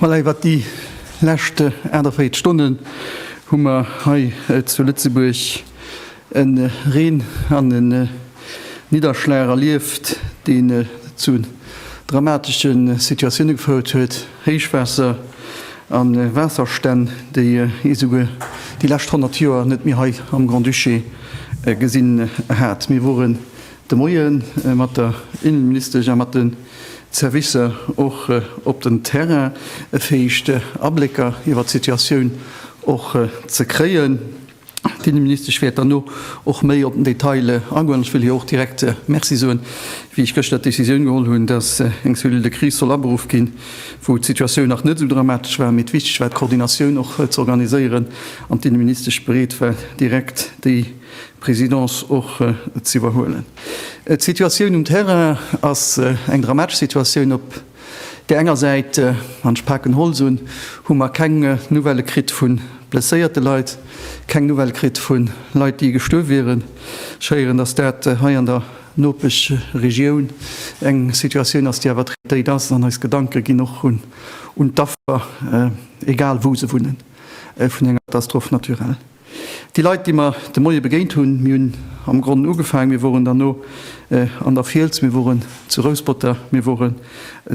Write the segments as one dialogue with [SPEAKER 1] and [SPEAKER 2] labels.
[SPEAKER 1] Voilà, iwwert déi lescht 48 Stonnen hu mer hei zu Lëtzebuerg e Reen an e Nidderschlag erlieft, deen zu dramatesche Situatioune gefouert huet, Héichwaasser a Waasserstänn, déi ee souguer déi lescht 100 Joer net méi hei am Grand-Duché gesinn hat. Mir wore de Moie mat der Innenministesch a mat de Servicer och op den Terrain, fir éischt Ablécker iwwert d'Situatioun och ze kréien. D'Inneministesch wäert derno och méi op den Detail agoen. An ech wëll hir och direkt Merci soen, wéi ech gëschter d'Decisioun geholl hunn, dass eng Cellule de crise soll aberuff ginn, wou d'Situatioun nach net esou dramatesch war, mee et wichteg war, d'Koordinatioun och ze organiséieren an d'Inneministesch bereet war, direkt déi. Présidence och ze iwwerhuelen. D'Situatioun um Terrain ass eng dramatesch Situatioun. Op där enger Säit, an ech paken Holz un, hu mer keng Nouvellë kritt vu blesséierte Leit, keng Nouvellë kritt vu Leit, déi gestuerf wieren. Ech héieren, dass dat hei an der Nopeschregioun eng Situatioun ass, déi awer traitéit ass. An eis Gedanke ginn och un d'Affer, egal wou se wunnen, vun enger Catastrophe naturelle. Déi Leit, déi mer de Moie begéint hunn, mir hunn am Gronn ugefaangen, mir woren derno an der Fiels, mir woren zu Rouspother, mir woren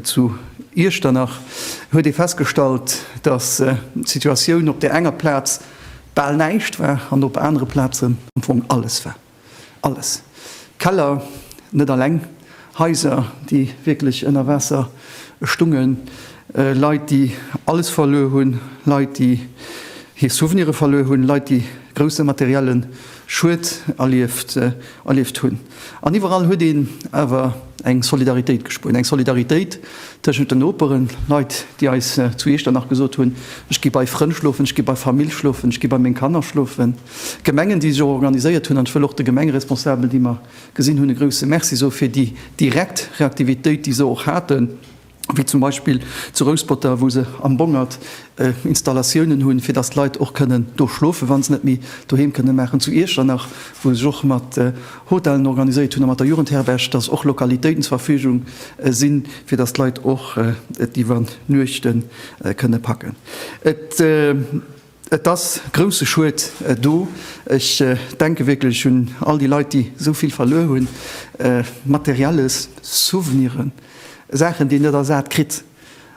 [SPEAKER 1] zu Iechternach, huet ee festgestallt, dass d'Situatioun op där enger Plaz bal näischt war an op anere Plazen am Fong alles war. Alles, Keller, net alleng, Haiser, déi wierklech ënner Waasser stungen, Leit, déi alles verluer hunn, Leit, déi hir Souvenire verluer hunn, Leit, déi grousse materielle Schued erlieft hunn. An iwwerall huet een awer eng Solidaritéit gespuert, eng Solidaritéit tëschent den Noperen, Leit, déi eis zu Iechternach gesot hunn, Ech gi bei Frënn schlofen, ech gi bei Famill schlofen, ech gi bei meng Kanner schlofen. Gemengen, déi sech och organiséiert hunn. An ech wëll och de Gemengeresponsabelen, déi mer gesinn hunn, e grouse Merci soe fir déi direkt Reaktivitéit, déi se och haten, wéi zum Beispill zu Rouspert-ter, wou se am Bongert Installatiounen hunn, fir datt d'Leit och kënnen do schlofen, wa se net méi doheem kënne maachen, zu Iechternach, wou se sech och mat Hotellen organiséiert hunn a mat der Jugendherberg, datt och Lokalitéiten zur Verfügung sinn, fir datt d'Leit och et iwwer Nuechten kënne packen. Et. Et ass grousse Schued do. Ech denke wierklech un all déi Leit, déi esou vill verluer hunn, Materielles, Souveniren, Saachen, déi een net ersat kritt.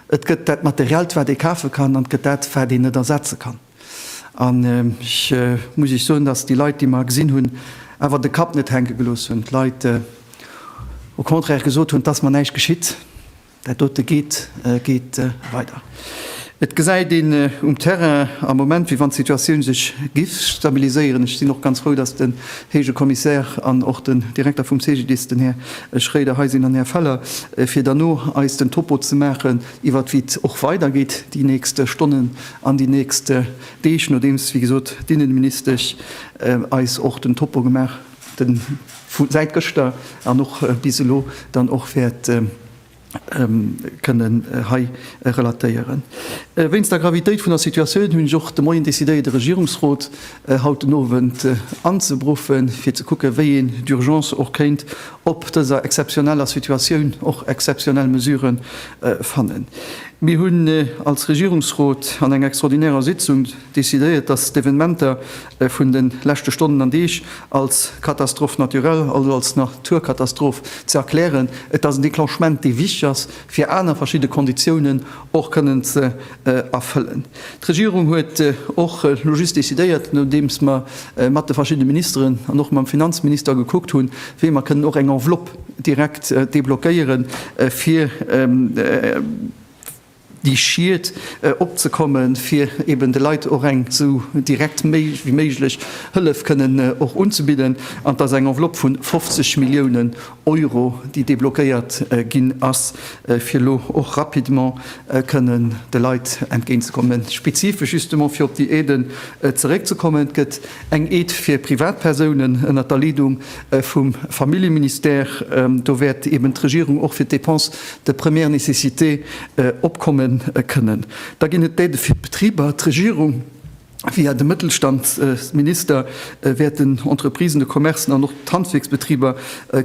[SPEAKER 1] Et gëtt dat Materiellt, wat ee kafe kann, an et gëtt dat, wat een net ersetze kann. An ech muss Iech soen, dass déi Leit, déi mer gesinn hunn, awer de Kapp net hänke gelooss hunn, d'Leit au contraire gesot hunn, 't ass mer näischt geschitt. Dat dote geet weider. Et gesäit een um Terrain am Moment, wéi wann d'Situatioun sech giff stabiliséieren. Ech sinn och ganz frou, dass den Héije Kommissär an och den Direkter vum CGDIS, den Här Schroeder, hei sinn, an Här Feller, fir derno eis den Topo ze maachen iwwert wéi et och weidergeet déi nächst Stonnen an déi nächst Deeg, nodeems, wéi gesot, d'Inneministesch eis och den Topo gemaach den vu säit gëschter an och bis elo dann och wäert kënnen hei relatéieren. Wéinst der Gravitéit vun der Situatioun hunn ech och de Moien decidéiert, e Regierungsrot haut den Owend anzebruffen, fir ze kucken, wéi een d'Urgence och kéint op dëser exzeptioneller Situatioun och exzeptionell Mesure fannen. Mir hunn als Regierungsrot an enger extraordinärer Sitzung, decidéiert, datt d'Evenementer vun de leschte Stonnen an Deeg als Catastrophe naturelle, also als Naturkatastroph ze erklären. Et ass en Declenchement, dee wichteg ass, fir aner verschidde Konditiounen och kënnen ze erfëllen. D'Regierung huet och elo just decidéiert, nodeems mer mat de verschiddene Ministeren an och mam Finanzminister gekuckt hunn, wéi mer kënnen och eng Enveloppe direkt deblockéieren, fir, déi Schied opzekommen, fir eben de Leit och eng esou direkt wéi méiglech Hëllef kënnen och unzebidden. An et ass eng Enveloppe vu 50 Milliounen Euro, déi deblockéiert ginn ass, fir elo och rapidement kënnen de Leit entgéintzekommen. Spezifesch justement, fir op déi Aiden zeréckzekommen, gëtt eng Aide fir Privatpersounen ënnert der Leedung vum Familljeministère, do wäert eben d'Regierung och fir d'Dépenses de première nécessité opkomme kënnen. Da ginn et d'Aidë fir d'Betriber. D'Regierung, via de Mëttelstandsminister, wäert den Entreprisen, de Commercen an och d'Handwierksbetriber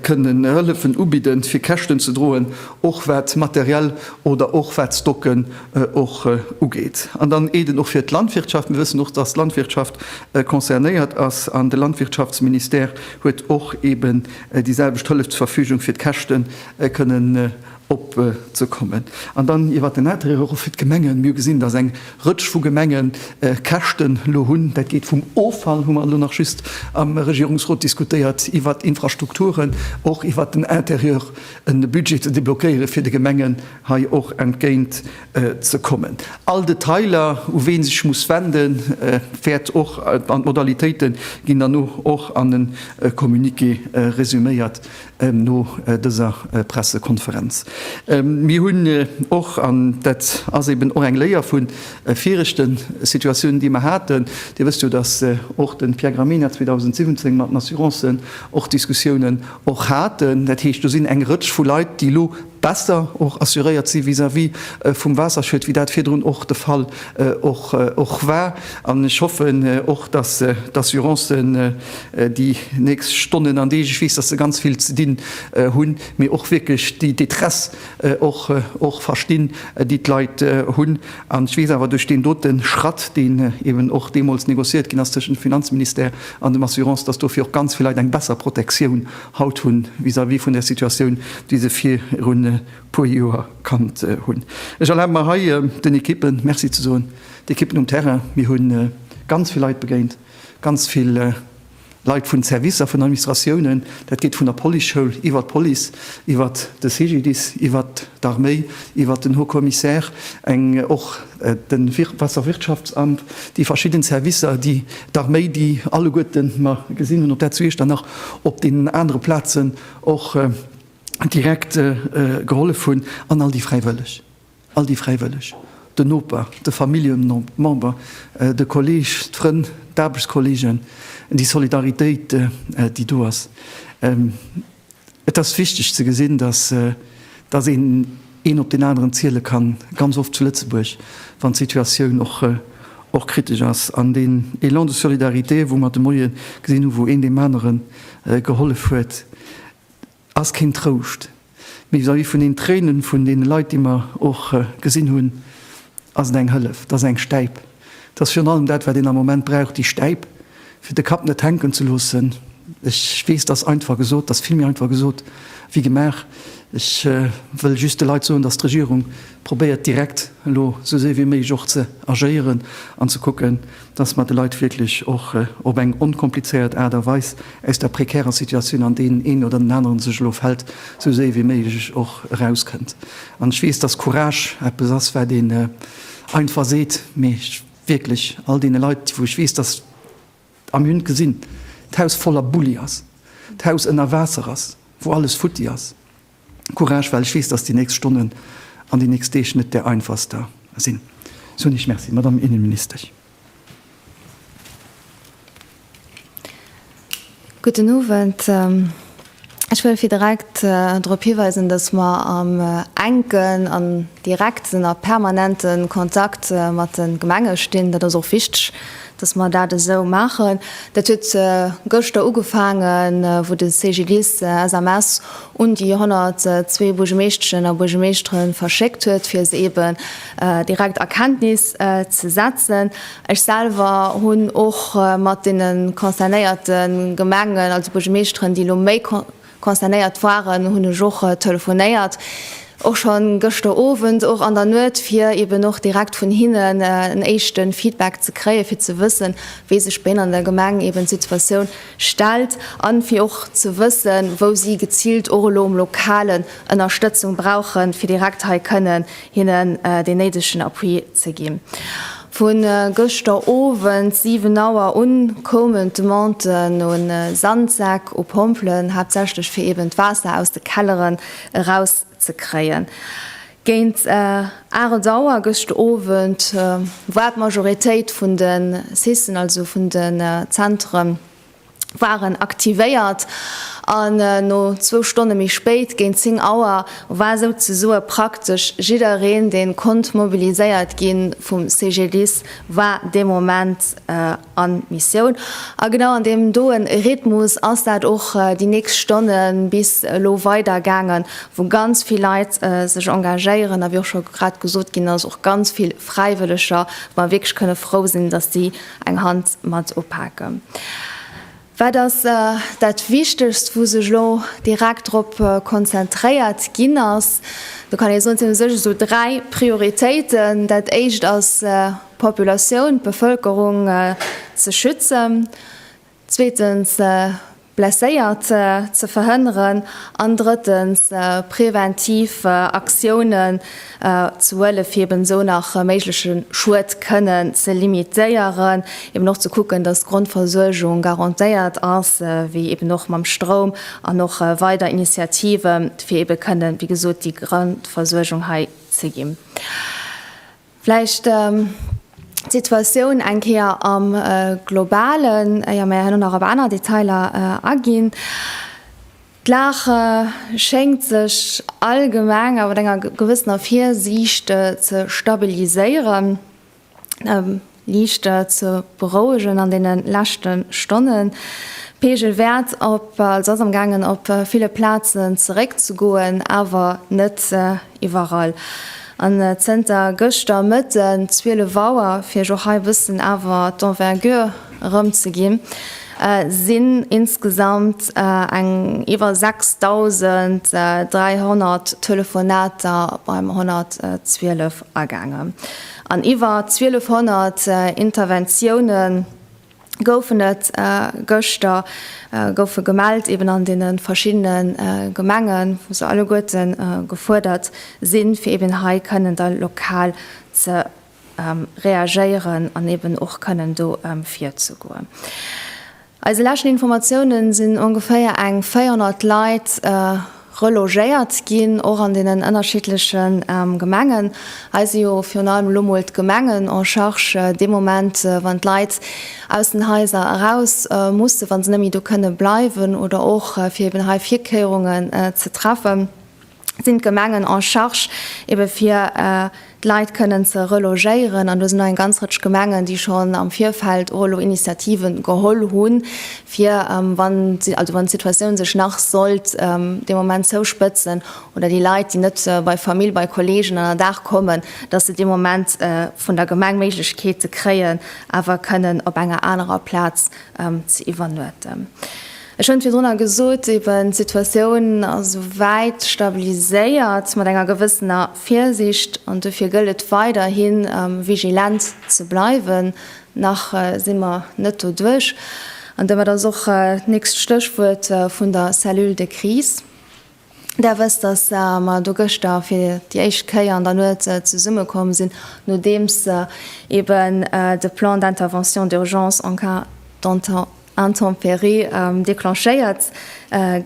[SPEAKER 1] kënnen Hëllefen ubidden, fir Käschten ze droen, och wat Material oder och wat Stocke och ugeet. An dann Aiden och fir d'Landwirtschaft. Mir wëssen och, dass d'Landwirtschaft concernéiert ass an de Landwirtschaftsministère huet och eeben déi selwecht Hëllef zur Verfügung, fir d'Käschte kënnen opzekommen. An dann iwwert den Intérêt euro fir d'Gemengen. Mir hu gesinn, dass eng Rëtsch vu Gemenge Käschten elo hunn. Dat geet vum Offall, hu mer elo nach just am Regierungsrot diskutéiert, iwwert Infrastrukturen, och iwwert den Intérieur e Budget ze deblockéiere fir de Gemengen hei och entgéint ze kommen. All Detailer, u wee sech muss wenden, wäert och, an d'Modalitéite ginn dann och an e Communiqué resuméiert no dëser Pressekonferenz. Mir hunn och, an dat ass eben och eng Léier vu viregte Situatiounen, déi mer haten, Dir wësst jo, datt och de Pierre Gramegna 2017 mat den Assurancen och Diskussiounen och haten. Dat heescht, do sinn eng Rëtsch vu Leit, déi elo, besser och assuréiert si vis-à-vis vum Waasserschued, wéi dat virdrun och de Fall och war. An ech hoffen och, dass d'Assurancen déi nächst Stonnen an Deeg, ech weess, dass se ganz vill ze dinn hunn, mee och wierklech déi Détresse och verstinn, déi d'Leit hunn. An ech weess awer duerch deen dote Schratt, deen eben och deemools negociéiert ginn ass tëschent dem Finanzministère an dem Assurance, dass dofir och ganz vill Leit eng besser Protektioun haut hunn, vis-à-vis vun der Situatioun, déi se virun e puer Joer kannt hunn. Ech erlabe mer hei, den Ekippen Merci ze soen, d'Ekippen um Terrain. Mir hu ganz vill Leit begéint, ganz vill Leit vun Servicer, vun Administratiounen, dat geet vun der Policeschoul iwwer d'Police, iwwer de CGDIS, iwwer d'Arméi, iwwer den Haut-Commissaire, eng och, den Wasserwirtschaftsamt, déi verschidden Servicer, déi d'Arméi, déi alleguerten, mer gesinn hunn op der zu Iechternach, op deenen anere Plazen och direkt gehollef hunn, an all déi Fräiwëlleg, all déi Fräiwëlleg, den Noper, de Familljemember, de Kolleg, d'Frënn, d'Aarbechtskolleegen, déi Solidaritéit, déi do ass. Et ass wichteg ze gesinn, datt een een op deen aneren ziele kann, ganz oft zu Lëtzebuerg, wann d'Situatioun och kritesch ass. An deen Élan de solidarité, wou mer de Moie gesinn hunn, wou een deem anere gehollef huet, ass keen Trouscht, mee vis-à-vis vun den Tréine vun deene Leit, déi mer och gesinn hunn, ass et eng Hëllef, et ass eng Stäip. Et ass virun allem dat, wat een am Moment brauch, déi Stäip, fir de Kapp net hänken ze loossen. Ech weess, et ass einfach gesot, et ass vill méi einfach gesot wéi gemaach. Ech wëll just de Leit soen, dass d'Regierung probéiert, direkt elo esou séier wéi méiglech och ze agéieren an ze kucken, dass mer de Leit wierklech och op eng onkomplizéiert Aart a Weis aus der prekärer Situatioun, an där deen een oder deen aneren sech elo fält, esou séier wéi méiglech och erauskënnt. An ech weess, dass Courage eppes ass, wat een, Einfach seet, mee ech wierklech all deene Leit, wou ech weess, dass, a mir hunn et gesinn, d'Haus voller Bulli ass, d'Haus ënner Waasser ass, wou alles futti ass, Courage, well ech weess, dass déi nächst Stonnen an déi nächst Deeg net där einfachster sinn. Sou hunn ech, Merci, Madame Innenministesch.
[SPEAKER 2] Gudden Owend. Ech wëll fir direkt drop hiweisen, dass mer am enken an direkten a permanente Kontakt mat de Gemenge stinn. Dat ass och wichteg, dass mer dat esou maachen. Dat huet gëschter ugefaangen, wou de CGDIS SMS un déi 102 Buergermeeschteschen a Buergermeeschtere verschéckt huet, fir se eeben direkt a Kenntnis ze setzen. Ech selwer hunn och mat deene concernéierte Gemengen, also Buergermeeschteren, déi elo méi concernéiert waren, hunn ech och telefonéiert, och schonn gëschter Owend, och an der Nuet, fir eben och direkt vun hinnen en éischte Feedback ze kréien, fir ze wëssen, wéi sech bei hinnen an der Gemeng eben d'Situatioun stellt a fir och ze wëssen, wou si geziilt och elo um Lokalen Ënnerstëtzung brauchen, fir direkt hei kënnen hinnen deen néidegen Appui ze gi. Vu gëschter Owend 7 Auer un koumen d'Demandë no Sandsäck u Pompelen, haaptsächlech fir eben d'Waasser aus de Kelleren erauszekréien. Géint 8 Auer gëscht Owend war d'Majoritéit vun de SISSen, also vun de Zentre waren aktivéiert an no zwou Stonne méi spéit, géint 10 Auer, war souzesoe praktesch jiddereen, dee konnt mobiliséiert gi vum CGDIS, war dee Moment a Missioun. A genau an deem doe Rhythmus ass dat och déi nächst Stonne bis elo weidergaangen, wou ganz vill Leit sech engagéieren a wéi och scho grad gesot ginn ass, och ganz vill Fräiwëlleger, wou mer wierklech kënne frou sinn, datt si Eng Hand mat upake. Wat ass dat Wichtegst, wou sech elo direkt drop konzentréiert ginn ass? Do kann ee soen, et sinn u sech esou dräi Prioritéiten. Dat éischt ass d'Populatioun, d'Bevëlkerung ze schützen. zweetens Blesséiert ze verhënneren an drëttens präventiv Aktiounen ze huelen, fir eben esou nach méigleche Schued kënnen ze limitéieren, eben och ze kucken, dass d'Grondversuergung garantéiert ass, wéi eben och mam Stroum an och weider Initiative fir eben kënnen, wéi gesot, déi Grondversuergung hei ze ginn. Vläicht d'Situatioun eng Kéier am Globalen, éier mir herno nach op aner Detailer aginn. D'Lag schéngt sech allgemeng a mat enger gewëssener Virsiicht ze stabiliséieren. lichter ze berouegen an deene leschte Stonnen. D'Peegel wäert op, also ass am gaangen op ville Plazen zeréck ze goen, awer net iwwerall. An zënter gëschter Mëtten 12 Auer, fir iech och hei e bëssen awer d'Envergure erëm ze ginn, sinn insgesamt eng iwwer 6.300 Telefonater beim 112 agaangen. An iwwer 1200 Interventioune goufen et gëschter goufe gemellt, eben an deene verschiddene Gemengen, wou se alleguerte gefuerdert sinn, fir eben hei kënnen da lokal ze reagéieren an eben och kënnen do virzegoen. Eise leschten Informatiounen sinn ongeféier eng 400 Leit relogéiert ginn, och an deenen ënnerschiddleche Gemengen. Hei si jo virun allem elo mol d'Gemengen en charge dee Moment, wann d'Leit aus den Haiser eraus mussen, wa se net méi do kënne bleiwen oder och fir eben hei Virkéierungen ze treffen. sinn d'Gemengen en charge ebe fir d'Leit kënnen ze relogéieren. An do sinn nach eng ganz Rëtsch Gemengen, déi schonn am Virfeld och elo Initiativen geholl hunn, fir wann, also wann d'Situatioun sech nach sollt dee Moment zouspëtzen oder déi Leit, déi net bei Famill, bei Kolleegen an der Dag kommen, dass se dee Moment vun der Gemeng d'Méiglechkeet kréien, awer kënnen op enger anerer Plaz ze iwwernuechten. Ech hunn virdrunner gesot, eben, d'Situatioun ass souwäit stabiliséiert, mat enger gewëssener Virsicht, an dofir gëllt et weiderhi vigilent ze bleiwen. Nach si mer net doduerch, an domat ass och d'nächst Stéchwuert vun der Cellule de crise. Där wësst, datt mer do gëschter fir déi éischt Kéier an der Nuet zesumme komm sinn, nodeems eben de Plan d'intervention d'urgence en cas d'intempéries declenchéiert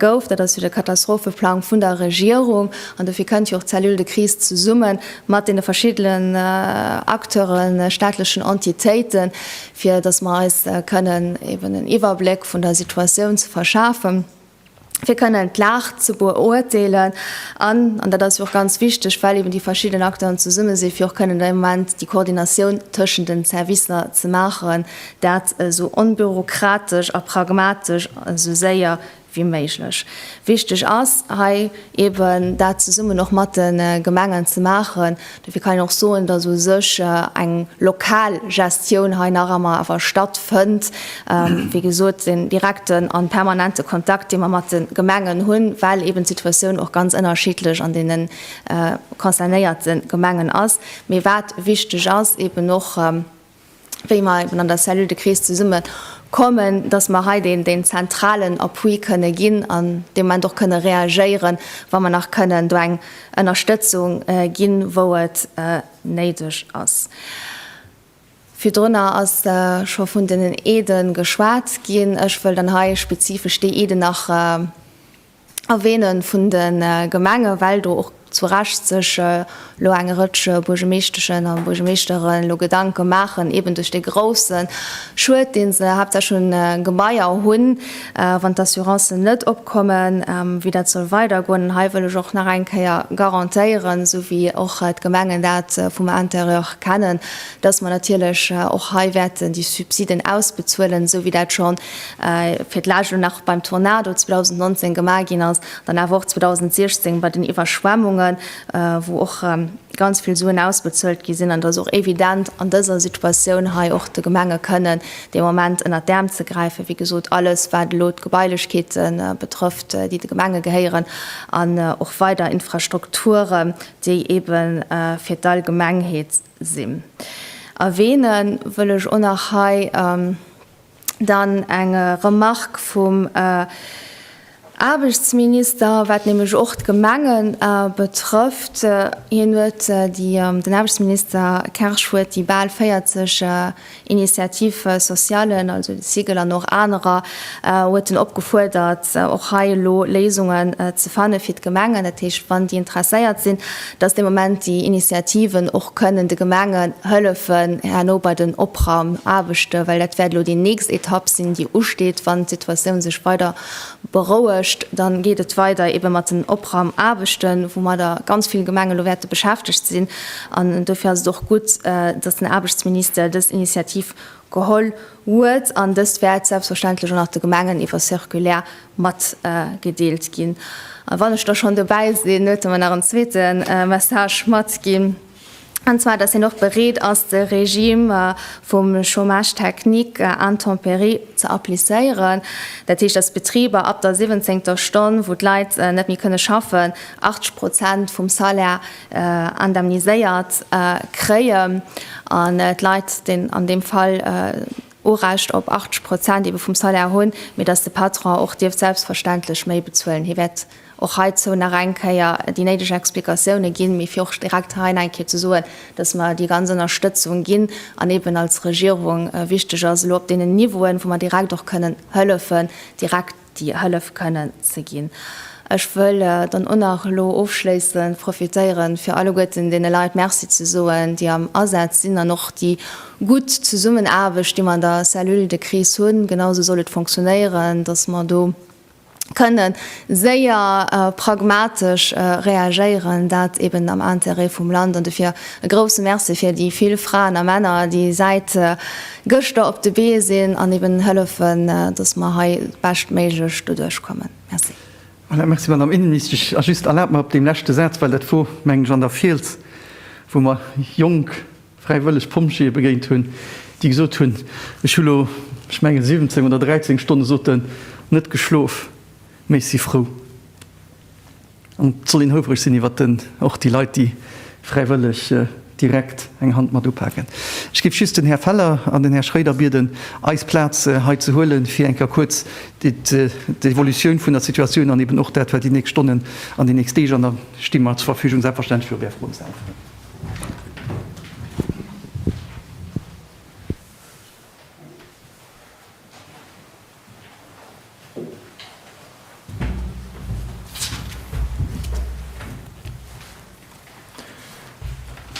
[SPEAKER 2] gouf. Dat ass jo de Katastropheplang vun der Regierung. An dofir kënnt jo och d'Cellule de crise zesumme mat deene verschiddenen Acteuren, staatlechen Entitéiten, fir datt mer eis kënnen eben en Iwwerbléck vun der Situatioun ze verschafen. fir kënnen d'Lag ze beurteelen an, an dat ass jo och ganz wichteg, well eeben déi verschidden Acteuren zesumme sinn, fir och kënnen dee Moment déi Koordinatioun tëschent den Servicer ze maachen, dat esou onbürokratesch a pragmatesch, esou séier wéi méiglech. Wichteg ass hei eeben, dat zesummen och mat de Gemengen ze maachen, Dofir kann een och soen, dass u sech eng lokal Gestioun hei nach ëmmer awer stattfënnt. Wéi gesot, den direkten a permanente Kontakt, dee mer mat de Gemengen hunn, well eeben d'Situatioun och ganz ënnerschiddlech an deene concernéierte Gemengen ass. Mee wat wichteg ass, eeben och wéi mer eben an der Cellule de crise zesumme kommen, dass mer hei deen, deen zentralen Appui kënne ginn an dee Moment och kënne reagéieren, wa mer nach kënnen do eng Ënnerstëtzung ginn, wou et néideg ass. Virdrunner ass scho vun den Aiden geschwat ginn. Ech wëll dann hei spezifesch déi Aiden nach, Erwähne vun de Gemenge well do och zu Recht sech elo eng Rëtsch Buergemeeschteschen a Buergemeeschteren elo Gedanke maachen, eben duerch dee grouse Schued, dee se haaptsächlech un Gebaier hunn, wann d'Assurancen net opkommen, wéi dat soll weidergoen. An hei wëll ech och nach eng Kéier garantéieren, esou wéi och d'Gemengen dat vum Intérieur kennen, dass mer natierlech och hei wäerten déi Subsiden ausbezuelen, esou wéi dat schon fir d'lescht elo nach beim Tornado 2019 gemaach ginn ass, dann awer och 2016 bei den Iwwerschwemmungen, wou och ganz vill Suen ausbezuelt gi sinn. An et ass och evident an dëser Situatioun hei och de Gemenge kënnen dee Moment ënnert d'Äerm ze gräifen, wéi gesot alles, wat elo d'Gebailechkeete betrëfft, déi de Gemenge gehéieren, an och weider Infrastrukturen, déi ebe fir d'Allgemengheet sinn. Erwähne wëll ech och nach hei, Dann eng Remarque vum Aarbechtsminister, wat nämlech och d'Gemenge betrëfft. Hien huet déi, den Aarbechtsminister Kersch huet déi bal 40 Initiatives sociales, also de SIGL an och anerer, huet en opgefuerdert, och hei elo Léisungen ze fanne fir d'Gemengen, dat heescht, wann déi interesséiert sinn, dass dee Moment déi Initiativen och kënnen de Gemengen hëllefen herno bei den Opraumaarbechte, well dat wäert elo déi nächst Etapp sinn, déi usteet. Wann d'Situatioun sech weider berouegt, da geet et weider eebe mat den Opraumaarbechten, woumadder ganz vill Gemengen elo wäerte beschäftegt sinn. An dofir ass et och gutt, dass den Aarbechtsminister dës Initiativ geholl huet, an dëst wäert selbstverständlech och nach de Gemengen iwwer Circulaire matgedeelt ginn. A wann ech da schonn dobäi sinn, huet e mer nach en zweete Message matginn, an zwar, dass hien och bereet ass, de Regime vum Chômage technique intempéries ze applizéieren. Dat heescht, dass Betriber ab der siwwenzéngter Stonn, wou d'Leit net méi kënne schaffen, 80 Prozent vum Salaire indemniséiert kréien an d'Leit deen an deem Fall Urecht op 80 Prozent ebe vum Salaire hunn, mee datt de Patron och dierft selbstverständlech méi bezuelen. Hie wäert och heizou nach eng Kéier déi néideg Explikatioune ginn, mee fir och direkt hei nach eng Kéier ze soen, datt mer déi ganz Ënnerstëtzung ginn an eben als Regierung wichteg ass elo op deenen Niveauen, wou mer direkt och kënnen hëllefen, direkt, déi hëllef kënnen ze ginn. Ech wëll dann och nach elo ofschléissend profitéieren, fir alleguerten deene Leit Merci ze soen, déi am Asaz sinn an och déi gutt Zesummenaarbecht, déi mer an der Cellule de crise hunn. Genausou soll et funktionéieren, dass mer do kënne séier pragmatesch reagéieren, dat eben am Intérêt vum Land. An dofir e grouse Merci fir déi vill Fraen a Männer, déi säit Gëschter op de Bee sinn an eben hëllefen, dass mer hei beschtméiglech doduerch kommen. Merci. Voilà, merci, Madamm
[SPEAKER 1] Innenministesch. A just erlaabt mer op deem leschte Saz, well dat wor, mengen ech, an der Fiels, wou mer jonk fräiwëlleg Pompjeeë begéint hunn, déi gesot hunn, Ech hu lo, ech mengen, 17 oder 13 Stonne, sot en, net geschlof, mee ech si frou, An et soll een houfereg sinn iwwer den, och déi Leit, déi fräiwëlleg direkt eng Hand mat upaken. Ech géif just den Här Feller an den Här Schroeder bieden, eis Plaz hei ze huelen, fir eng Kéier kuerz d'Evolutioun vun der Situatioun an eben och dat, wat déi nächst Stonnen an déi nächst Deeg, an da sti mer zur Verfügung, selbstverständlech, fir op Är Froen ze äntweren.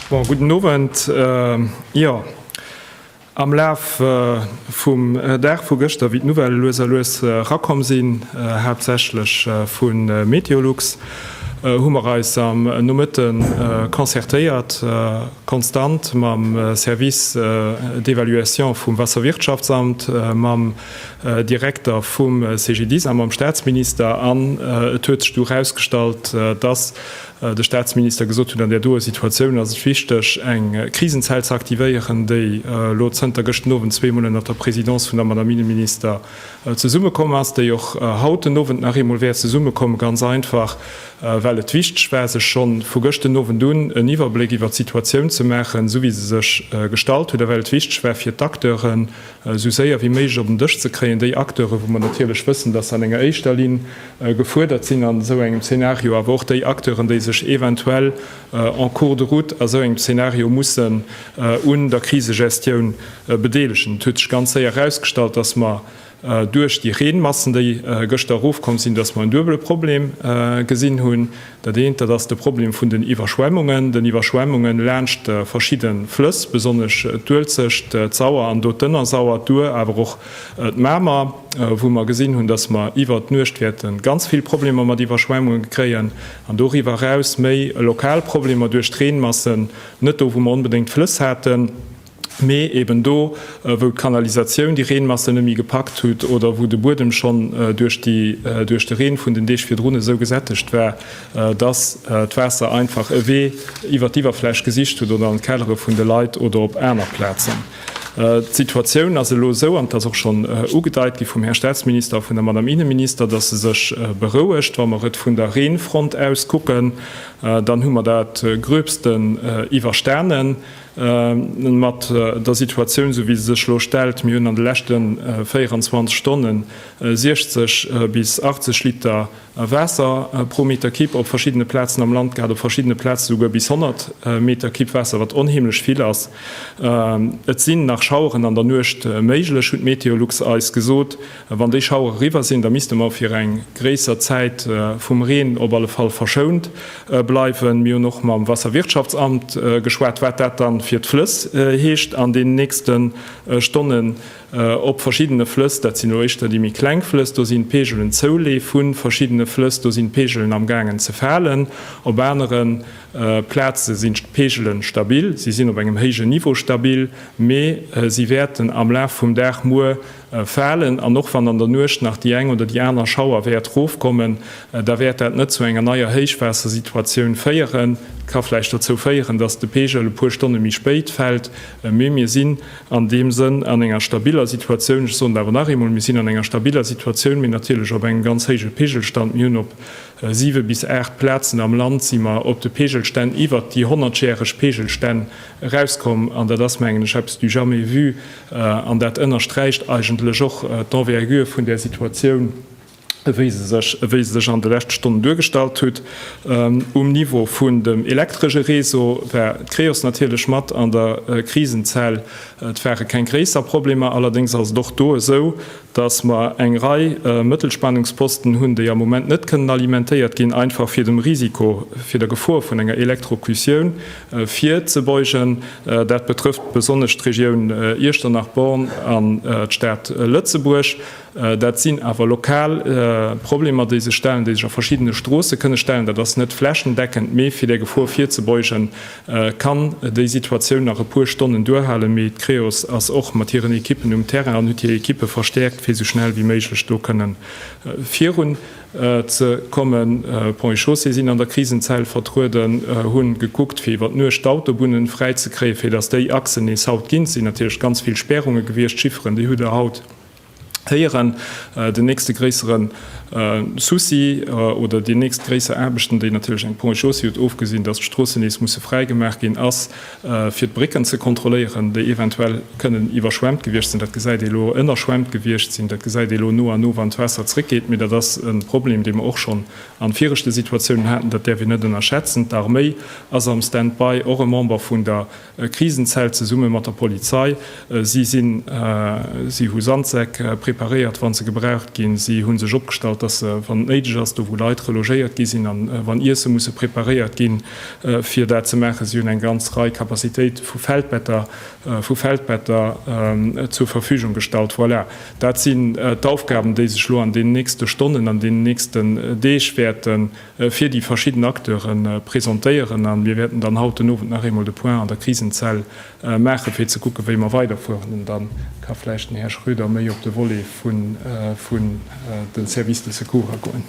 [SPEAKER 3] Bon, gudden Owend. Jo, am Laf vum Dag vu gëschter, wéi d'Nouvellë lues a lues erakomm sinn, haaptsächlech vu Meteolux, hu mer eis am Nomëtte concertéiert, konstant mam Service d'évaluation vum Wasserwirtschaftsamt, mam Direkter vum CGDIS a mam Statsminister, an et huet sech du erausgestallt, dass de Statsminister gesot huet, an där doe Situatioun ass et wichteg, eng Krisenzell ze aktivéieren, déi elo zënter gëschten Owend zweemol ënnert der Présidence vun der Madame Inneminister zesummekomm ass, déi och haut den Owend nach eemol wäert zesummekommen, ganz einfach well et wichteg war, sech scho vu gëschten Owend un en Iwwerbléck iwwert d'Situatioun ze maachen, esou wéi se sech gestalt huet, a well et wichteg war fir d'Acteuren esou séier wéi méiglech op en Dësch ze kréien, déi Acteuren, wou mer natierlech wëssen, datt se an enger éischter Linn gefuerdert sinn an esou engem Zeenario, awer och déi Acteuren, déi sech eventuell en cours de route a sou engem Zeenario mussen un der Krisegestioun bedeelegen. Et huet sech ganz séier erausgestallt, dass mer duerch déi Reenmassen, déi gëschter erofkomm sinn, dass mer en duebele Problem gesinn hunn. Dat eent, dat ass de Problem vun den Iwwerschwemmungen, den Iwwerschwemmungen laanscht verschidde Flëss, besonnesch d'Uelzecht, d'Sauer an do d'Ënnersauer, d'Our, awer och d'Mamer, wou mer gesinn hunn, dass mer iwwert d'Nuecht wäerte ganz vill Problemer mat Iwwerschwemmungen kréien. an doriwwer eraus méi lokal Problemer duerch d'Reenmassen, net do wou mer onbedéngt d'Flëss haten, mee eben do wou d'Kanalisatioun déi Reenmassen net méi gepackt hutt oder wou de Buedem schonn duerch de Reen vun den Deeg virdrun esou gesättegt war, datt d'Waasser einfach e Wee iwwer d'Iwwerfläch gesicht hutt oder an d'Kellere vun de Leit oder op aner Plazen. D'Situatioun ass elo esou, an et ass och schonn ugedeit gi vum Här Statsminister a vun der Madame Innenminister, dass se sech berouegt. Wa mer et vun der Reenfront aus kucken, dann hu mer dat Gröbsten iwwerstanen mat der Situatioun, esou wéi se sech elo stellt. Mir hunn an de leschte 24 Stonne 60 bis 80 Liter A Waasser pro Meter Kipp op verschiddene Plazen am Land gehat, op verschiddene Plaze souguer bis 100 Meter Kipp Waasser, wat onheemlech vill ass. Et sinn nach Schaueren an der Nuecht méiglech, hunn d'Meteolux eis gesot. Wann déi Schauere eriwwer sinn, da misste mer fir eng gréisser Zäit vum Reen op alle Fall verschount bleiwen. Mir hunn och mam Wasserwirtschaftsamt geschwat, wat dat da fir d'Flëss heescht an deenen nächste Stonnen. Op verschiddene Flëss, dat sinn elo éischter déi méi kleng Flëss, do sinn d'Peegelen zouleef vu verschiddene Flëss, do sinn d'Peegelen am gaangen ze falen. Op anere Plaze sinn d'Peegelen stabil, si sinn op engem héijen Niveau stabil, mee si wäerten am Laf vum Dag muer falen. An och wann an der Nuecht nach déi eng oder déi aner Schauer wäert erofkommen, da wäert dat net zu enger neier Héichwaassersituatioun féieren. Et ka vläicht dozou féieren, dass de Peegel e puer Stonne méi spéit fält, mee mir sinn An deem Sënn, an enger stabiller Situatioun, ech soen et awer nach eemol, Mir sinn an enger stabiller Situatioun, mee natierlech op engem ganz héije Peegelstand. Mir hunn op siwe bis aacht Plazen am Land si mer op de Peegelstänn iwwert déi honnertjäreg Peegelstänn erauskomm. An dat ass, mengen ech, eppes du jamais vu an dat ënnersträicht eigentlech och d'Envergure vun där Situatioun, ewéi se sech, ewéi se sech an de leschte Stonnen duergestallt hutt. Um Niveau vun dem elektresche Réseau war d'Creos natierlech mat an der Krisenzell. Et ware keng gréisser Problemer, allerdéngs ass et och do esou, dass mer eng Rei Mëttelspannungsposten hunn, déi am Moment net kënnen alimentéiert ginn, einfach fir dem Risiko, fir der Gefor vun enger Elektrokutioun virzebeugen. Dat betrëfft besonnesch d'Regioun Iechternach-Born an d'Stad Lëtzebuerg. Dat sinn awer lokal Problemer, déi sech stellen, déi sech a verschiddene Stroosse kënne stellen. Dat ass net flächendeckend, mee fir där Gefor virzebeugen, kann déi Situatioun nach e puer Stonnen duerhalen. Mee d'Creos ass och mat hiren Ekippen um Terrain an huet hir Ekippe verstäerkt, fir esou schnell wéi méiglech do kënne virun ze kommen. Ponts et Chaussées sinn an der Krisenzell vertrueden, hu gekuckt, fir iwwer d'Nuecht d'Autobunne fräizekréien, fir dass déi Achsen nees haut ginn. Et sinn natierlech ganz vill Spärunge gewiescht. D'Chifferen, déi hutt Der haut. héieren, den nächste gréissere Souci oder déi nächst gréisser Aarbechten, déi natierlech eng Ponts et chaussées huet, ofgesinn datt d'Stroossen nees musse fräi gemaach ginn, ass fir d'Brécken ze kontrolléieren, déi eventuell kënnen iwwerschwemmt gewiescht sinn. Dat gesäit ee elo. Ënnerschwemmt gewiescht sinn, dat gesäit ee elo no a no, wann d'Waasser zréckgeet. Mee dat ass e Problem, dee mer och schonn a viregte Situatiounen haten, dat däerf een net ënnerschätzen. D'Arméi ass am Stand-by, och e Member vun der E Krisenzelt zesumme mat der Polizei. Si sinn, si hu Sandsäck preparéiert, wann se gebraucht ginn. Si hu sech opgestallt, dass se, wann et néideg ass, do wou Leit relogéiert gi sinn an wann Iesse musse preparéiert ginn, fir dat ze maachen. Si hunn eng ganz Rei Capacitéite vu Feldbetter, vu Feldbetter zur Verfügung gestallt. Voilà, dat sinn d'Aufgaben, déi sech elo an deenen nächste Stonnen, an deenen nächsten Deeg wäerten. fir déi verschidden Acteure presentéieren a mir wäerten dann haut den Owend nach eemol de Point an der Krisenzell maachen, fir ze kucken, wéi mer weiderfueren. An da ka vläicht den Här Schroeder méi op de Volet vun de Services de secours agoen.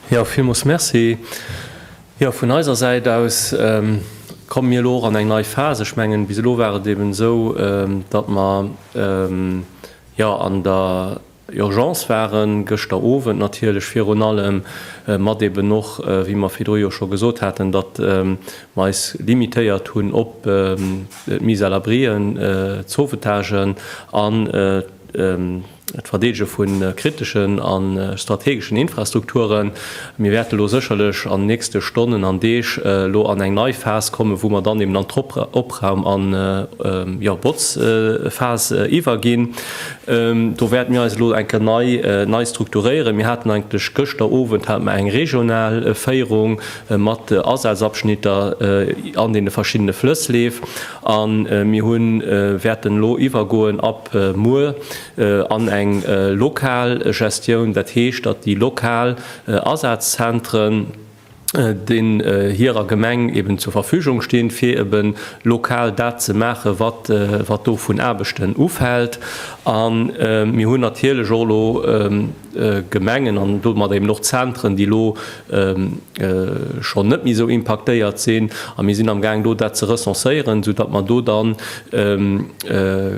[SPEAKER 4] Jo, villmools merci. Jo, vun eiser Säit aus komme mir elo och an eng nei Phas. Ech mengen, bis elo war et eeben esou, datt mer, Jo, an der Urgence waren gëschter Owend natierlech virun allem, mat eben och, wéi mer virdru jo scho gesot haten, datt mer eis limitéiert hunn op d'Mise à l'abrien, d'Sauvetagen an d'Verdeedege vu kriteschen a strategeschen Infrastrukturen. Mir wäerte elo sécherlech an den nächste Stonnen an Deeg elo an eng nei Phas kommen, wou mer dann eben an d'Opraum an, jo, Botzphas iwwerginn. Do wäerte mir eis elo eng Kéier nei, nei strukturéieren. Mir haten eigentlech gëschter Owend hate mer eng regional Féierung mat Asazabschnitter an deene verschiddene Flëssleef a mir hunn, wäerten elo iwwergoen ab muer, an eng lokal Gestioun, dat heescht, datt déi lokal Asazzentrën, déi hirer Gemeng eben zur Verfügung stinn, fir eben lokal dat ze maachen, wat do vun Aarbechten ufält. A mir hunn natierlech och elo, Gemengen an domat eben och Zentren, déi elo schonn net méi esou impaktéiert sinn. A mir sinn am Gaang do dat ze recenséieren, esou datt mer do dann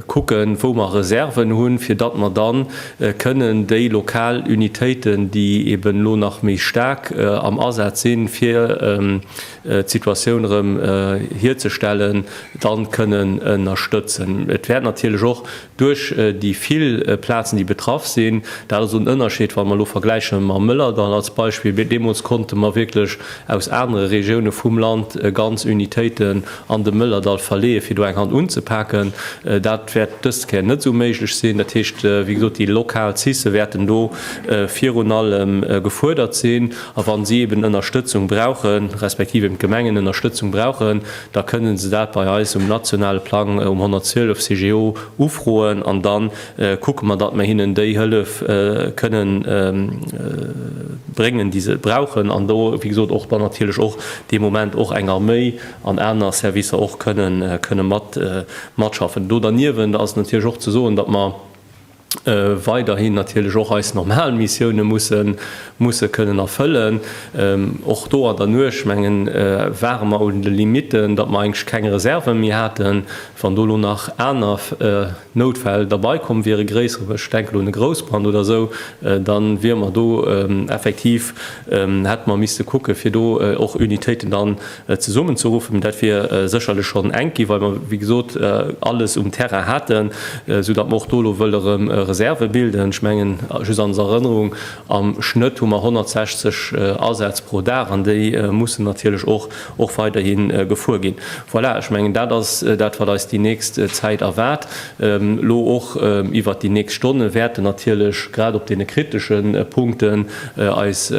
[SPEAKER 4] kucken, wou mer Reserven hunn, fir datt mer da kënnen déi lokal Unitéiten, déi eben elo nach méi staark am Asaz sinn, fir d'Situatioun erëm hierzestellen, da kënnen ënnerstëtzen. Et wäert natierlech och Duerch déi vill Plazen, déi betraff sinn, dat ass en Ënnerscheed, wa mer elo vergläiche mam Mëllerdall als Beispill, mee deemools konnte mer wierklech aus anere Regioune vum Land ganz Unitéiten an de Mëllerdall verleeë fir do eng Hand unzepaken. Dat wäert dës Kéier net esou méiglech sinn. Dat heescht, wéi gesot, déi lokal CICE wäerten do virun allem gefuerdert sinn. A wa si eeben Ënnerstëtzung brauchen, respektiv eeben d'Gemengen Ënnerstëtzung brauchen, da kënnen se dat bei eis um nationale Plang um 112 CGO ufroen an da kucke mer, datt mer hinnen déi Hëllef kënne bréngen, déi se brauchen an do, wéi gesot, och dann natierlech och dee Moment och eng Arméi an aner Servicer och kënne matschaffen. Do derniewent ass et natierlech och ze soen, datt mer, weiderhin natierlech och eis normal Missioune musse kënnen erfëllen. Och do an der Nuecht, menge ware mer un de Limitten, datt mer eigentlech keng Reserve méi haten. Wann do elo nach aner Noutfäll derbei komm wiere, gréisser, ech denken un e Groussbrand oder esou, da wiere mer do effektiv, hätte mer misste kucke fir do och Unitéiten dann Zesummenzeruffen. Dat wier sécherlech schonn enk ginn, well mer, wéi gesot, alles um Terrain haten, soudatt mer och do elo wëlle rëm Reserve bilden. Ech mengen, just als Erënnerung, Am Schnëtt hu mer 160 Asätz pro Dag an déi mussen natierlech och weiderhi gefuer ginn. Voilà, ech mengen, dat ass dat, wat eis déi nächst Zäit erwaart. Elo och iwwert déi nächst Stonne wäerten natierlech grad op deene kritesche Punkten eis,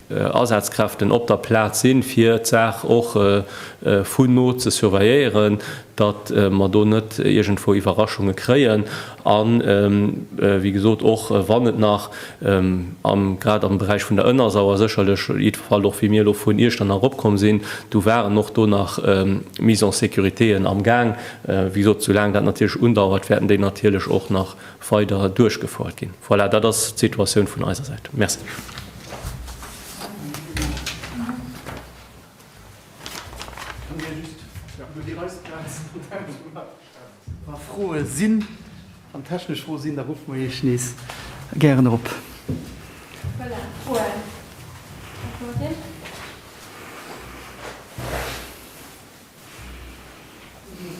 [SPEAKER 4] Asazkräften op der Plaz sinn, fir d'Saach och vun no ze surveilléieren, datt mer do net iergendwou Iwwerraschunge kréien an, wéi gesot, och wann et nach grad am Beräich vun der Ënnersauer sécherlech, jiddwerfalls och wéi mir elo vun Iechternach eropkomm sinn, do waren och do nach Mise en sécuritéen am Gaang, wéi gesot, soulaang dat natierlech undauert, wäerten déi natierlech och nach weider duerchgefouert ginn. Voilà, dat ass d'Situatioun vun eiser Säit. Merci. Wa
[SPEAKER 1] Froe sinn, wann technesch Froe sinn, da ruffe mer Iech nees gären erop. Voilà, d'Froen.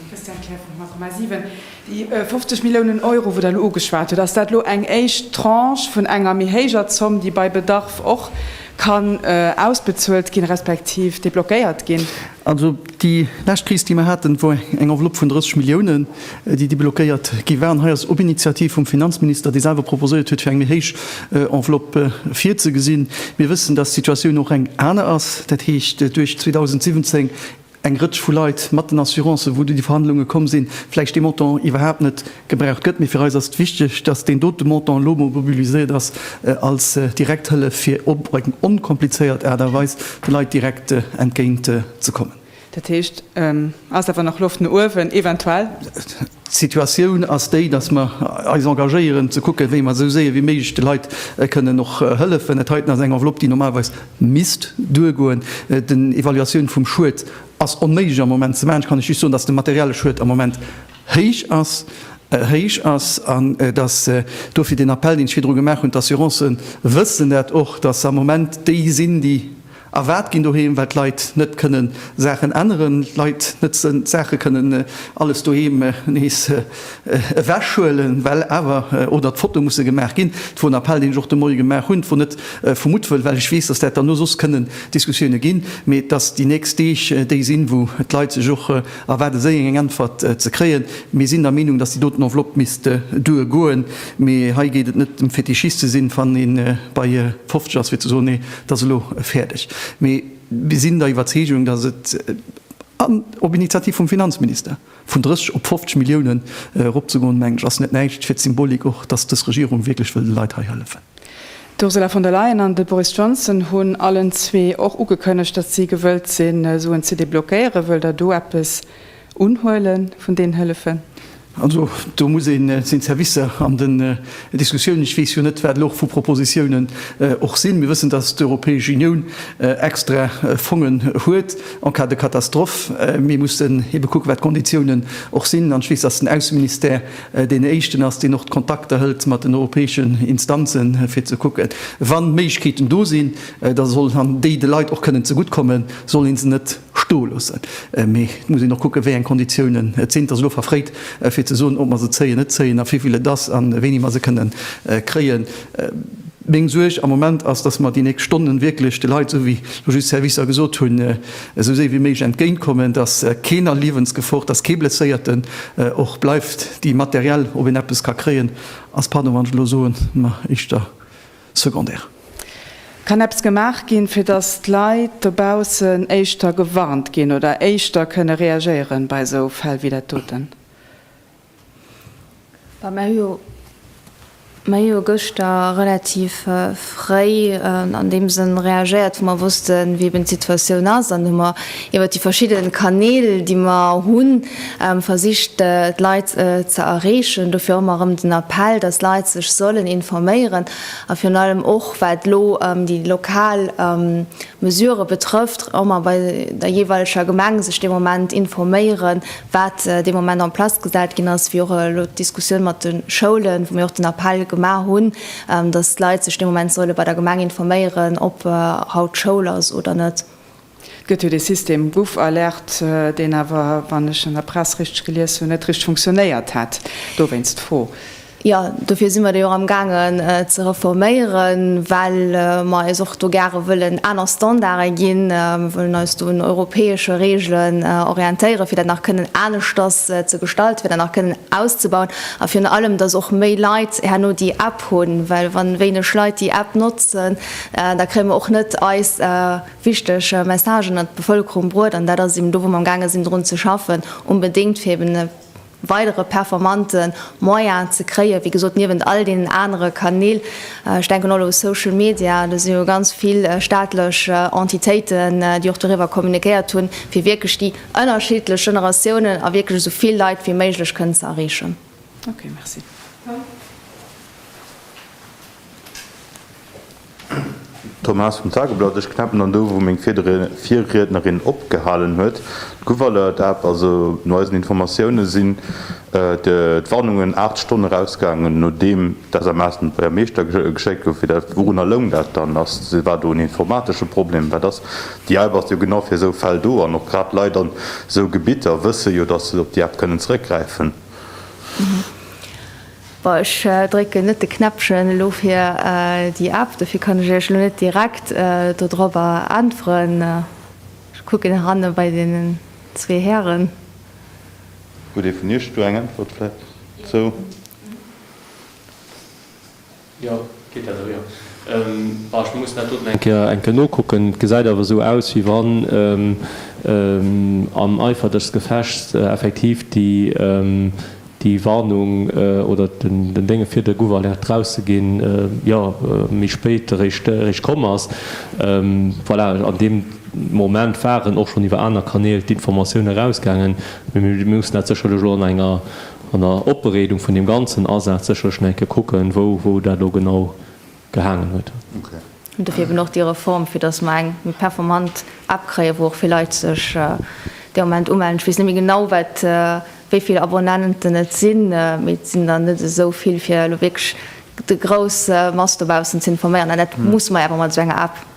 [SPEAKER 5] Christiane Kerr vu Magma 7. Déi 50 Milliounen Euro, wou Der elo ugeschwat hutt, ass dat elo eng éischt Tranche vun enger méi héijer Zomm, déi bei Bedarf och kann ausbezuelt ginn, respektiv deblockéiert ginn? Also déi
[SPEAKER 1] lescht Kris, déi mer haten, wor eng Enveloppe vun 30 Milliounen, déi deblockéiert gi waren, hei ass op Initiativ vum Finanzminister, dee selwer proposéiert huet, fir eng méi héich Enveloppe virzegesinn. Mir wëssen, dass d'Situatioun och eng aner ass, dat heescht duerch 2017 eng Rëtsch vu Leit mat den Assurancen, wou déi Verhandlunge komm sinn, vläicht dee Montant iwwerhaapt net gebraucht gëtt. Mee fir eis ass et wichteg, dass deen dote Montant elo emol mobiliséiert ass als direkt Hëllef, fir op eng onkomplizéiert Aart a Weis de Leit direkt entgéint ze kommen. Dat heescht,
[SPEAKER 5] et ass awer nach Loft no uewen, eventuell. D'Situatioun
[SPEAKER 1] ass déi, datt mer eis engagéieren, ze kucken, wéi mer esou séier wéi méiglech de Leit kënnen och hëllefen. Dat heiten ass eng Enveloppe, déi normalerweis misst duergoen. Den Evaluatioun vum Schued ass onméiglech am Moment ze maachen. Ech kann lech just soen, datt de materielle Schued am Moment héich ass, héich ass an datt dofir den Appell, deen ech virdru gemaach hunn, d'Assurancen wëssen dat och, datt se am Moment déi sinn, déi Erwaart ginn doheem, well d'Leit net kënnen Saachen änneren, d'Leit net d'Saache kënnen alles doheem nees ewechhuelen, well awer oder d'Fotoe musse gemaach ginn. Dat wor en Appell, deen ech och de Moie gemaach hunn. Dat wor net vu Muttwëll, well ech weess, dass dat derno soss kënnen Diskussioune ginn, mee dass déi nächst Deeg déi sinn, wou d'Leit sech och erwaarde séien, eng Äntwert ze kréien. Mir sinn der Meenung, dass déi doten Enveloppe misst duergoen, mee hei geet et net, fir Tichist ze sinn, wann ee bei 50 ass, fir ze soen, nee, Dat ass elo fäerdeg. Mee mir sinn der Iwwerzeegung, datt et an, op Initiativ vum Finanzminister, vun 30 op 50 Milliounen eropzegoen, meng ech, ass net näischt fir d'Symbolik och, datt dës Regierung wierklech wëll de Leit hei hëllefen. D'Ursula von
[SPEAKER 5] der Leyen an de Boris Johnson hunn allen zwee och ugekënnegt, datt si gewëllt sinn, Suen ze deblockéieren. Wëllt Der do eppes Unhuele vun deenen Hëllefen. Also
[SPEAKER 1] do muss een seng Servicer an den Diskussiounen, ech weess jo net, wat elo och vu Propositiounen och sinn. Mir wëssen, datt d'Europäesch Unioun extra Fongen huet en cas de catastrophe. Mir mussen ebe kucken, wat d'Konditiounen och sinn. An ech weess, datt den Ausseministère deen éischten ass, deen och d'Kontakter hëlt mat den europäeschen Instanzen, fir ze kucken, wann Méiglechkeeten do sinn, da soll an déi de Leit och kënnen zegutt kommen, soll ee se net, stoe loossen. Mee et muss een och kucken, wéi eng Konditiounen et sinn. Et ass elo verfréit, fir ze soen, ob mer se zéien, net zéien a vivill et ass a wéini mer se kënnen kréien. Meng Suerg am Moment ass, dass mer déi nächst Stonnen wierklech de Leit, esou wéi elo just d'Servicer gesot hunn, esou séi wéi méiglech entgéintkommen, dass keen a Liewensgefor, dass kee Blesséierten och bleift, déi materiell, ob een eppes ka kréien, ass, pardon, wann ech elo soen, mer éischter. Secondaire.
[SPEAKER 5] Kann eppes gemaach ginn, fir datt d'Leit dobaussen éischter gewarnt ginn oder éischter kënne reagéieren bei esou Fäll wéi dat doten?
[SPEAKER 2] Mer hu jo gëschter relativ fréi an deem Sënn reagéiert, wou mer wossten, wéi eben d'Situatioun ass, an hu mer iwwert déi verschidde Kanäl, déi mer hunn, versicht d'Leit ze erreechen. Dofir och emmer erëm den Appell, dass d'Leit sech sollen informéieren a virun allem och wat elo déi lokal Mesurë betrëfft, emmer bei der jeeweileger Gemeng sech dee Moment informéieren, wat dee Moment en place gesat ginn ass, wéi och elo d'Diskussioun mat de Schoulen, wou mir och den Appell gemaach hunn, dass d'Leit sech dee Moment solle bei der Gemeng informéieren, ob haut Schoul ass oder net. Et gëtt jo dee
[SPEAKER 5] System GouvAlerte, deen awer, wann ech an der Press richteg gelies hunn, net richteg funktionéiert hätt. Dowéinst d'Fro. Jo, dofir
[SPEAKER 2] si mer déi och amgaangen ze reforméieren, well mer eis och do gare wëllen aner Standarde ginn. Mer wëllen eis do un europäesche Reegelen orientéieren, fir dat nach kënnen aneschters ze gestalten, fir dat nach kënnen auszebauen a virun allem, dass och méi Leit herno déi App hunn. Well wann wéineg Leit déi App notzen, da kréie mer och net eis. wichteg Messagen an d'Bevëlkerung bruet, an dat ass eben do, wou mer am gaange sinn drun ze schaffen, onbedéngt fir eben e weidere performante Moyen ze kréien, wéi gesot, niewent all deenen anere Kanäl, ech denken och elo u Social Media, do si jo ganz vill staatlech Entitéiten, déi och doriwwer kommunikéiert hunn, fir wierklech déi ënnerschiddlech Generatiounen a wierklech esou vill Leit wéi méiglech kënnen ze erreechen. Okay, merci.
[SPEAKER 6] Thomas vum Tageblatt, Ech knäppen dann do wou meng Virriednerin opgehalen huet. D'Gouverneur App, also no eisen Informatioune sinn d'Warnungen 8 Stonne erausgaangen nodeem d'SMS un de Buergermeeschter geschéckt gouf. Wourunner loung dat dann? War do en informatesche Problem? Wat ass? Déi App ass jo genau fir esou Fäll do an och grad d'Leit an esou Gebitter wësse jo datt se op déi App kënnen zeréckgräifen.
[SPEAKER 2] Bon, ech drécken net de Knäppchen elo fir déi App, dofir kann ech Iech elo net direkt dodrobber äntweren. Ech kucken heranne bei deenen zwee Hären.
[SPEAKER 6] Huet ee vun Iech do eng Äntwert vläicht zou?
[SPEAKER 4] Jo, geet dat eriwer? Bah, ech muss dat doten eng Kéier eng Kéier nokucken. Et gesäit awer esou aus, wéi wann am Eifer des Gefechts effektiv déi déi Warnung oder den den Dénge fir de Guwalert draus ze ginn, jo, méi spéit eréischt eréischt komm ass. Voilà, an deem Moment waren och schonn iwwer aner Kanäl d'Informatioune erausgaangen, mee mir mussen dat sécherlech elo an enger an der Opbereedung vun deem ganzen Asaz sécherlech nach eng Kéier kucken, wou wou dat elo genau gehaangen huet. An dofir
[SPEAKER 6] eben och déi
[SPEAKER 2] Reform, fir datt mer eng méi performant App kréien, wou och vill Leit sech dee Moment umellen. Ech weess net méi genau, wat wéi vill Abonnenten et sinn, mee et sinn der net esou vill, fir elo wierklech déi grouss Mass dobaussen ze informéieren. An dat muss mer
[SPEAKER 6] awer
[SPEAKER 2] mat esou enger App.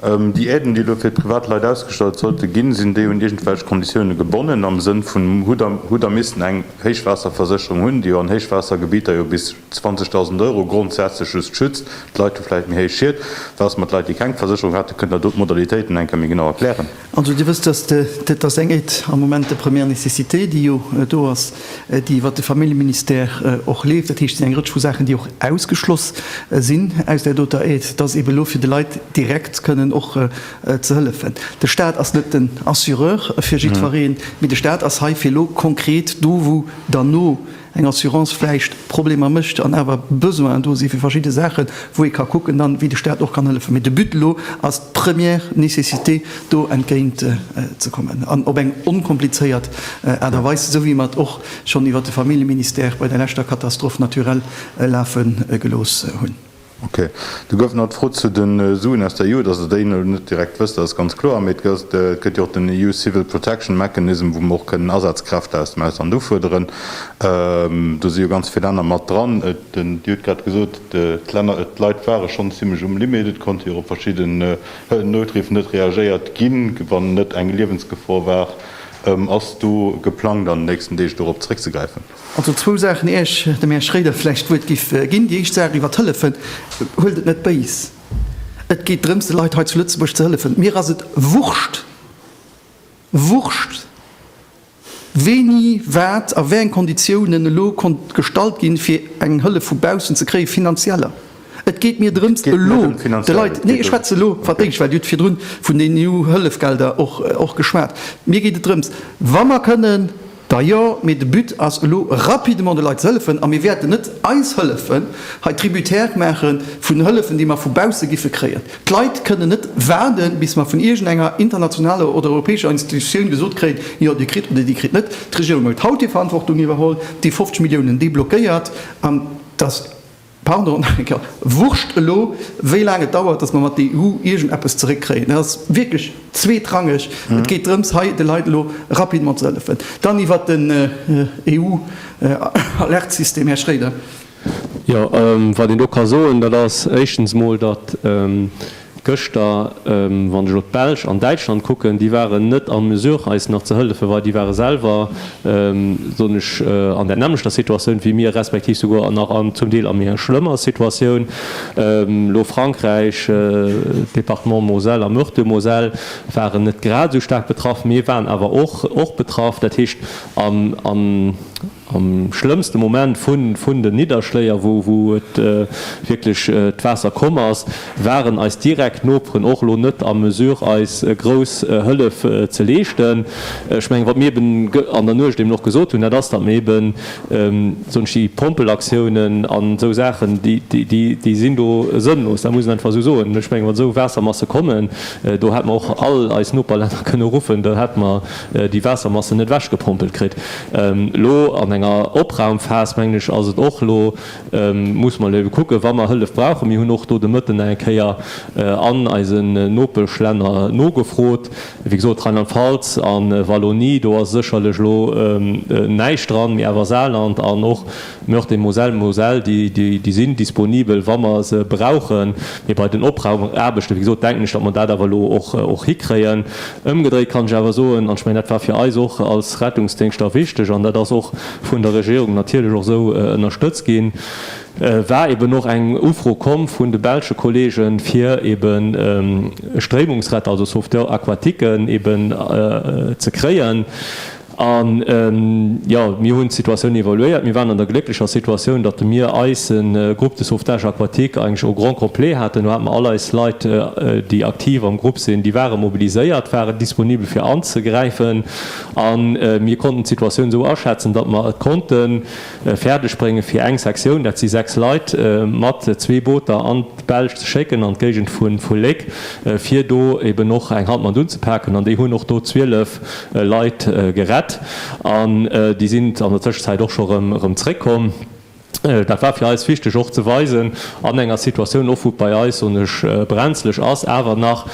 [SPEAKER 6] Déi Aiden, déi elo fir privat Leit ausgestallt sollte ginn, sinn déi un iergendwelch Konditioune gebonnen am Sënn vun hu der missten eng Héichwaasserversécherung hunn, déi jo an Héichwaassergebieter jo bis 20.000 Euro grondsätzlech just schützt. D'Leit hu vläicht méi héich Schied. Wat ass mat Leit, déi keng Versécherung haten? Kënnt Der do d'Modalitéiten eng Kéier méi genau erklären? Also Dir wësst, dass
[SPEAKER 1] dat ass eng Aide am Moment de première nécessité, déi jo do ass, déi iwwert de Familljeministère och leeft. Dat heescht, et sinn eng Rëtsch vu Saachen, déi och ausgeschloss sinn aus där doter Aide, dass eebe elo fir de Leit direkt kënnen och ze hëllefen. De Stat ass net den Assureur fir jiddwereen, mee de Stat ass hei fir elo konkret do, wou dann no eng Assurance vläicht Problemer mécht an awer Besoinen do si fir verschidde Saachen, wou ee ka kucken dann, wéi de Staat och kann hëllefen. Mee de But elo ass d'première nécessité do entgéint ze kommen an op eng onkomplizéiert Aart a Weis, esou wéi mer et och schonn iwwert de Familljeministère bei der leschter Katastrophe naturelle lafe gelooss hunn. Ok. Do
[SPEAKER 6] gouf nach d'Fro zu de Suen aus der EU, dass Der déi elo net direkt wësst, dat ass ganz kloer. Mee et gëtt jo och den EU Civil Protection Mechanism, wou mer och kënnen Asazkräfte aus dem Ausland ufuerderen. Do si jo ganz vill Länner mat dran. Dir hutt grad gesot, d'Leit ware schonn zimlech um Limit. Et konnte jo och op verschidde Nouthriffer net reagéiert ginn, wann net eng Liewensgefor war. Ass do geplangt, an den nächsten Deeg dorop zeréckzegräifen? Also zwou Saachen,
[SPEAKER 1] ier ech dem Här Schroeder vläicht d'Wuert giff ginn. Déi éischt Saach iwwer d'Hëllefen, huelt et net béis. Et geet drëms, de Leit hei zu Lëtzebuerg ze hëllefen. Mir ass et wurscht, wurscht! wéini wat a wéi eng Konditiounen elo konnt gestallt ginn, fir eng Hëllef vu baussen ze kréien, finanzieller. Et geet mir drëms, elo de Leit, nee, ech schwätze elo wat d'Éischt war, Dir hutt virdrun vun den EU-Hëllefgelder och geschwat. Mir geet et drëms, wa mer kënnen, Da jo, mee de But ass elo rapidement de Leit ze hëllefen a mir wäerten net eis Hëllefen hei tributaire maache vun Hëllefen déi mer vu bausse giffe kréien. D'Leit kënnen net waarde bis mer vun iergendenger internationaler oder europäescher Institutioun gesot kréien, jo dir kritt oder dir kritt net. D'Regierung huet haut hir Verantwortung iwwerholl, déi 50 Milliounen déi blockéiert an dass. Pardon, wurscht elo, wéi laang et dauert, datt mer mat der EU iergend eppes zeréckkréien. Dat ass wierklech zweetrangeg. Et geet drëms, hei de Leit elo rapidement ze hëllefen. Dann iwwert den EU-Alertsystem, Här Schroeder. Jo,
[SPEAKER 4] wat een do ka soen, dat ass éischtens emol, datt Gëschter, wann ech elo d'Belsch an Däitschland kucken, déi waren net en mesure eis nach ze hëllefen, well déi ware selwer, soen ech, an där nämmlechter Situatioun wéi mir, respektiv souguer nach an zum Deel a méi schlëmmer Situatioun. Elo Frankräich, Département Moselle a Meurthe-et-Moselle waren net grad esou staark betraff, mee waren awer och betraff. Dat heescht, an. Am schlëmmste Moment vun den Nidderschléier, wou et wierklech d'Waasser komm ass, waren eis direkt Noperen och elo net a Mesure eis grouss Hëllef ze leeschten. Ech mengen, wat mir eben an der Nuecht eben och gesot hunn, dat ass, datt mir eben esou déi Pompelaktiounen an esou Saachen, déi sinn do sënnlos, dat muss een einfach esou soen. Ech menge wann esou Waassermasse kommen, do hätt mer och all eis Noperlänner kënne ruffen, do hätt mer, déi Waassermassen net ewechgepompelt kritt. Elo an enger Opraumphas, mengen ech, ass et och elo, muss mer elo ebe kucken, wa mer Hëllef brauchen. Mir hunn och do de Mëtten nach eng Kéier an eise Nopeschlänner nogefrot, wéi gesot, Rheinland-Pfalz a Wallonie, do ass sécherlech elo näischt dran, mee awer Saarland an och Meurthe et Moselle Moselle, déi, déi sinn disponibel, wa mer se brauchen. Mee bei den Opraumaarbechten, wéi gesot, denken ech, datt mer dat awer elo och, och hikréien. Ëmgedréit kann ech awer soen, an ech mengen, dat war fir eis och als Rettungsdéngschter wichteg, an dat ass och vun der Regierung natierlech och esou ënnerstëtzt ginn, war eeben och eng Ufro komm vun de belsche Kolleegen, fir eeben Stréimungsretter, also Sauveteurs aquatiquen, eeben ze kréien. A jo, mir hunn d'Situatioun evaluéiert. Mir waren an der glécklecher Situatioun, datt de mir eise Groupe de sauvetage aquatique eigentlech au grand complet haten. Do hate mer all eis Leit, déi aktiv am Groupe sinn, déi ware mobiliséiert, waren disponibel fir anzegräifen a mir konnten d'Situatioun esou aschätzen, datt mer et konnten fäerdeg bréngen, fir eng Sektioun, dat si 6 Leit, mat zwee Booter an d'Belsch ze schécken, an d'Géigend vu Léck, fir do eben och eng Hand mat unzepaken. An déi hunn och do 12 Leit gerett an déi sinn an der Tëschenzäit och scho rëm zréckkomm. Dat war fir eis wichteg och ze weisen, an enger Situatioun och wou et bei eis, soen ech, brenzleg ass, awer nach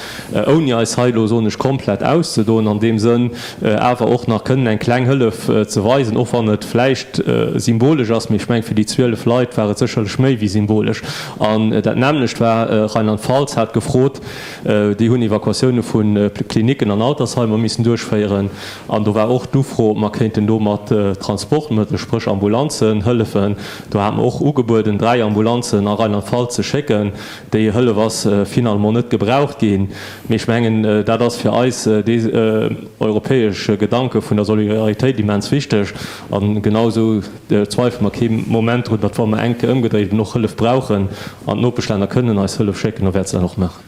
[SPEAKER 4] ouni eis hei elo, soen ech, komplett auszedoen an deem Sënn, awer och nach kënnen eng kleng Hëllef ze weisen, och wann et vläicht symbolesch ass, mee ech meng, fir déi 12 Leit war et sécherlech méi wéi symbolesch. An dat nämmlecht war, Rheinland-Pfalz hat gefrot, déi hunn Evakuatioune vu Klinicken an Altersheimer missen duerchféieren an do war och d'Ufro, ob mer kéinten do mat Transportmëttel, spréch Ambulanzen, hëllefen. Do hat mer och ugebueden, dräi Ambulanzen a Rheinland-Pfalz ze schécken, Déi Hëllef ass finalement net gebraucht ginn, mee ech mengen, dat ass fir eis dee europäesche Gedanke vun der Solidaritéit immens wichteg. A genausou zweifele mer kee Moment drun, datt, wa mer enk ëmgedréit eben och Hëllef brauchen an d'Nopeschlänner kënnen eis Hëllef schécken, da wäerte se dat och maachen.